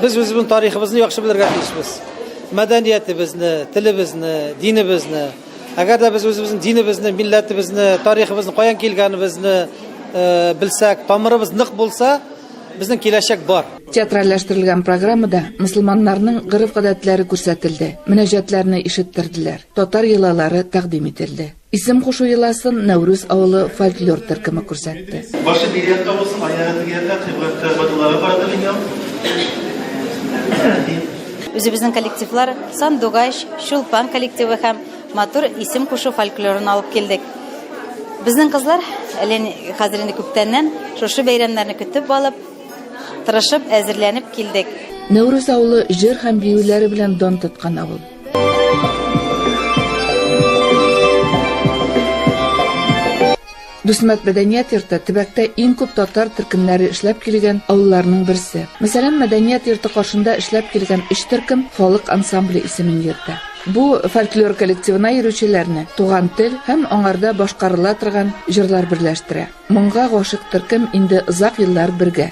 Без үзебезнең тарихыбызны яхшы белергә тиешбез. Мәдәниятебезне, телебезне, динебезне. Әгәр дә без үзебезнең динебезне, милләтебезне, тарихыбызны, каян килгәнебезне э, белсәк, тамырыбыз нык булса, безнең киләчәк бар. Театральләштерелгән программада мөселманнарның гырыф-гадәтләре күрсәтелде, мөнәҗәтләрне ишеттерделәр, татар йолалары тәкъдим ителде. Исем кушу йоласын Нәүрүз авылы фольклор төркеме күрсәтте. Башы бирәк табылсын, аягы дигәндә кыйбләттә бадылары барды дөнья. Үзебезнең коллективлар Сандугач, Чулпан коллективы һәм матур исем кушу фольклорын алып килдек. Безнең кызлар әле хәзер инде күптәннән шушы бәйрәмнәрне көтеп алып, тырышып әзерләнеп килдек. Нәүрүз авылы җыр һәм биюләре белән дан тоткан авыл. Дусмәт мәдәният йорты төбәктә иң күп татар төркемнәре эшләп килгән авылларның берсе. Мәсәлән, мәдәният йорты каршында эшләп килгән өч төркем халык ансамбле исемен йөртә. Бу фольклор коллективына йөрүчеләрне туган тел һәм аңарда башкарыла торган җырлар берләштерә. Моңга гашык төркем инде озак еллар бергә.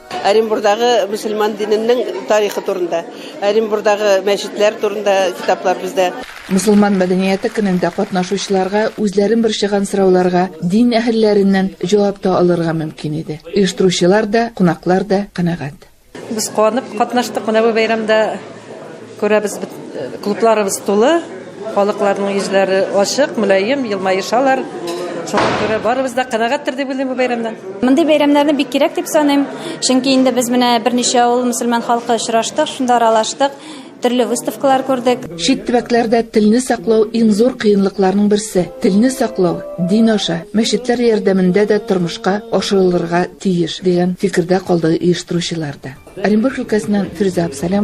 Оренбурдагы мөселман диненең тарихы турында, Оренбурдагы мәчетләр турында китаплар бездә. Мөселман мәдәнияте көнендә катнашучыларга үзләрен борчыган сорауларга дин әһелләреннән җавап та алырга мөмкин иде. Оештыручылар да, кунаклар да канәгать. Без куанып катнаштык менә бу бәйрәмдә. Күрәбез, клубларыбыз тулы, халыкларның йөзләре ачык, мөлаем, елмаешалар. Шуңа күрә барыбыз да канәгатьтер дип уйлыйм бу бәйрәмнән. Мондый бәйрәмнәрне бик кирәк дип саныйм, чөнки инде без менә берничә авыл мөселман халкы очраштык, шунда аралаштык, төрле выставкалар күрдек. Чит төбәкләрдә телне саклау иң зур кыенлыкларның берсе. Телне саклау дин аша, мәчетләр ярдәмендә дә тормышка ашырылырга тиеш, дигән фикердә калды оештыручылар да. Оренбург өлкәсеннән Фирүзә Абсалямова.